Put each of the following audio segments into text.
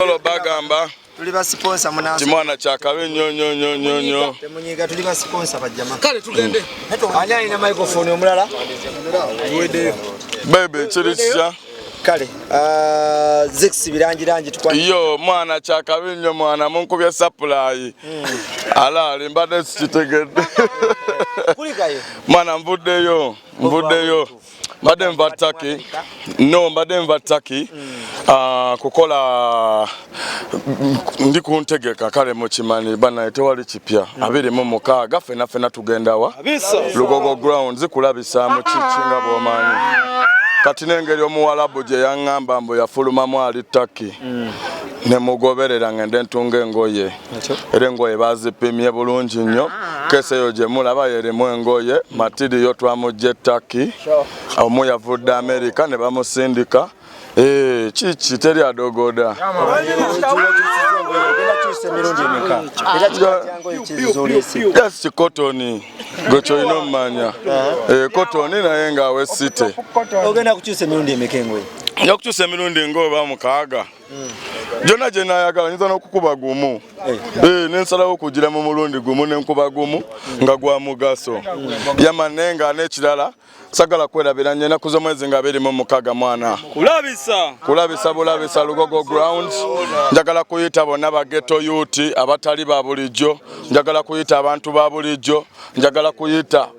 Lolo bagamba tuli ba sponsor munansi kimwana kya kabe nyo nyo nyo nyo nyo temunyiga tuli ba sponsor ba jamaa kale tugende mm. ani alina microphone omulala wede bebe kiri kya kale uh, zix birangirangi yo mwana kya kabe nyo mwana munkubye supply mm. ala limbade sikitegedde kulikayo mwana mvuddeyo mvuddeyo mbadde nva taki no mbadde nva taki ah, kukola ndi ku ntegeka kale mukimanyi banaye tewali kipya mm. abiri mu mukaaga fena fena tugendawa lugogo ground zikulabisa mu kiki nga bwomanyi kati n'engeri omuwalabu gye yaŋŋamba mbu yafulumamu ali taki mm. ne mugoberera ng'ende ntunga engoye era engoye bazipimye bulungi nnyo ah. kese eyo gye mulaba yerimu engoye matiriyo twamujja ettaki omu yavudde amerika ne bamusindika eh, kiki teri adogoda yes kikotoni gwe kyolina omumanya uh-huh. eh, kotoni naye ngaawe site ogenda kukyusa emirundi emeka engoye nja kukyusa emirundi ngaoba mukaaga gyonna gye naayagala nyinza n'okukuba gumu eh. Eh, nensalawo okugira mu mulundi gumu nenkuba gumu nga gwa mugaso yamane nga n'ekirala sagala kwerabira nyo enaku z'omwezi nga abiri mu mukaga mwana kulabisa kulabisa bulabisa lugogo ground njagala kuyita bonna bageto yuti abatali ba bulijjo njagala kuyita abantu ba bulijjo njagala kuyita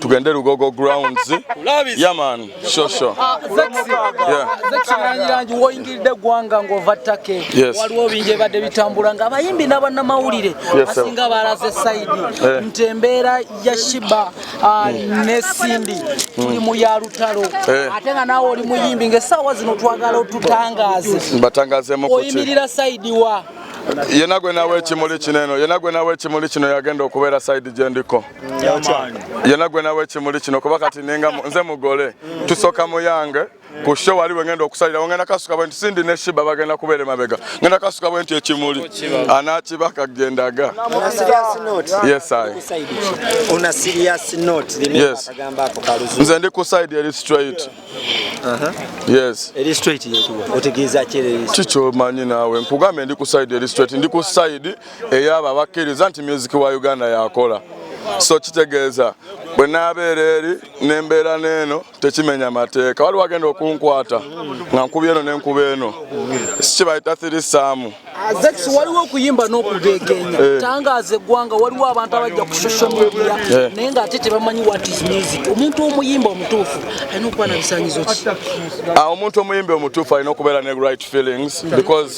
tugende lugogo grounds yaman shosho ah, zekirangirangi woyingiridde eggwanga ng'ova ttake waliwo bingi ebadde bitambula nga abayimbi n'abannamawulire asinga balaze sayidi eh. nti embeera ya shiba ah, hmm. ne sindi tuli mu ya lutalo eh. ate nga naawe oli muyimbi ng'essaawa zino twagala otutangaaze oyimirira sayidi wa yena gwe nawe ekimuli kino eno yena gwe nawe ekimuli kino yagenda okubeera sayidi gye ndiko yena gwe nawe ekimuli kino kuba kati ninga nze mugole tusoka muyange ku show wali wengenda okusalira wengenda kasuka bwe sindi ne shiba bagenda kubere mabega ngenda kasuka bwe nti ekimuli anakibaka gendaga una serious note yes i una serious note yes agamba ako kaluzu nze ndi ku side eri straight aha yes eri straight yetu otegeza kile chicho manyi nawe mpugambe ndi ku side eri straight ndi ku side eyo abo abakkiriza nti myuziki wa uganda yakola so kitegeeza bwe naabeera eri nembeera neeno tekimenya mateeka waliwo agenda okunkwata nga nkuba eno nenkuba eno sikibayita thiri saamu azex waliwo okuyimba n'okugegenya eh. tangaaza eggwanga waliwo abantu abajja ku social media eh. naye nga ate tebamanyi what is music omuntu omuyimba omutuufu alina okuba na bisanyizo ki ah, omuntu omuyimba omutuufu alina okubeera ne right feelings because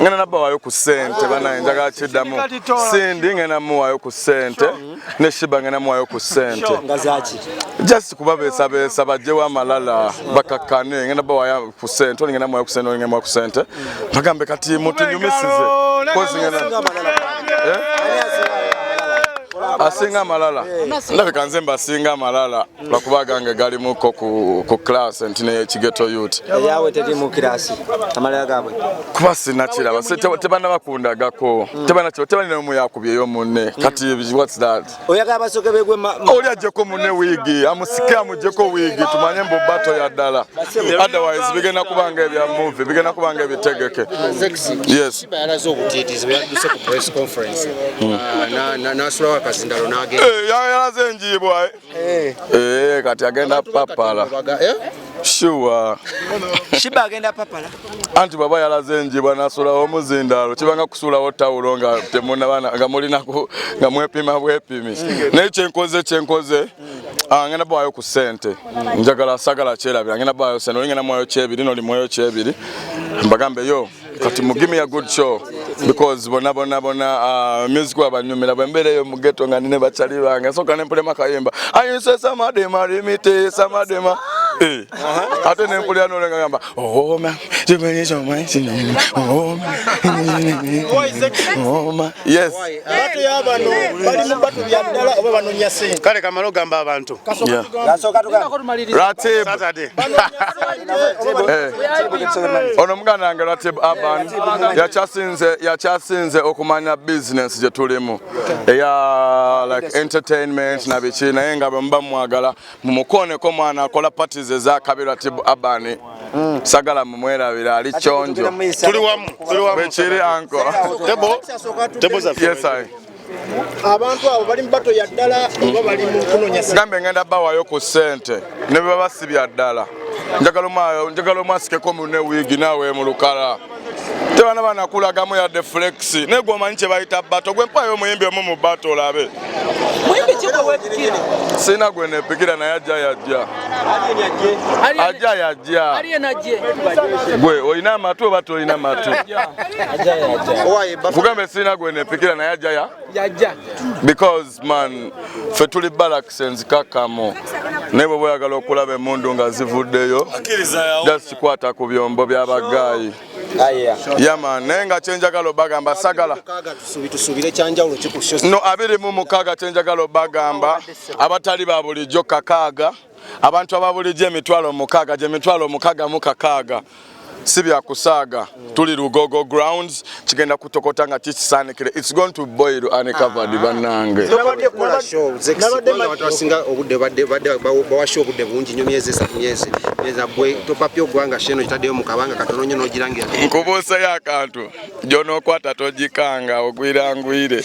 ngenda nabawayo ku sente banaye njagala kiddamu sindi ngenda muwayo ku sente ne shiba ngenda muwayo ku sente just kubabeesabeesa bajjewo amalala bakakkane ngenda bawayo ku sente oli ngenda muwayo ku sente oli ngenda muwayo ku sente bagambe kati mutunyumisize asinga amalala ndabika nze mbasinga amalala lwakuba agange galimuko ku class nti nekigeto yut eyawe teri mu kirasi amalaya gabwe kuba sinakiraba tebana bakundagako hmm. tebanakitebanina omu yakubyeyo munne hmm. kati whats that oyagala basoke begwe oli ajjeko munne wiigi amusike amujjeko wiigi tumanye mbu bato ya ddala otherwise bigenda kubanga ebya muvi bigenda kubanga ebitegeke yes hmm. ah, yalaze enjiibwa eh. Eh, eh kati agenda papala. Eh? Sure. Shiba agenda papala. Anti baba yalaze njibwa nasula omuzindalo kibanga kusulawo tawulo nga temuna bana nga mulina ku nga mwepima bwepimi. Naye kyenkoze kyenkoze Ah, ngenda bwayo ku sente njagala sagala kyerabira ngenda bwayo sente oli ngenda mwayo kyebiri noli mwayo kyebiri mbagambe yo kati mu gimme a good show because bona bona bona uh, music wabanyumira bwembeera eyo mugeto nga nine bacali bange nsooka nempulema kayimba ayinse samadema rimite samadema eh, ate nempulira nolenga gamba oma oh, oh, oh, yes batu ya bano bali mu batu bya ddala oba banonya sente kale kamala ogamba abantu ono muganda wange ratib aban yakyasinze yakyasinze okumanya bizinesi gye tulimu eya like entertainment na biki naye nga bwemuba mumwagala mumukooneko mwana akola pati ze za kabirwa tibu abani mm. sagala mumwerabira ali kyonjo bwekiri anko abantu abo bali mubato ya ddala oba bali mukunonyagambe ngenda bawayo ku sente ne bebaba si bya ddala njagala omwasikeko mune wiigi naawe mulukala tebana banakulagamu yadde flex naye gwomanyi kyebayita bato gwe mpayo omuyimbi omu mu bato olabe sina gwe nepikira naye ajja yajja ajja yajja gwe olina amatu oba tolina amatu kugambe sina gwe nepikira naye ajja ya because Man, fe tuli barracks enzikakamo naye bwe boyagala okulaba emundu nga zivuddeyo just kikwata ku byombo byabagayi yama naye nga kyenjagala obagamba sagala no abiri mu mukaaga kyenjagala obagamba abatali ba bulijjo kakaaga abantu ababulijjo emitwalo mukaaga gye mitwalo mukaaga mu kakaaga si bya kusaaga tuli lugogo grounds kigenda kutokota nga kikisaanikire its going to boil uncovered ah. bannange bawasha obudde bungi nyo myezi esatu myezi ezabwe topapya ogwanga sheno kitaddeyo mu kabanga katono nyo nogirangira nkubuusayo akantu gyonokwata togikanga ogwirangwire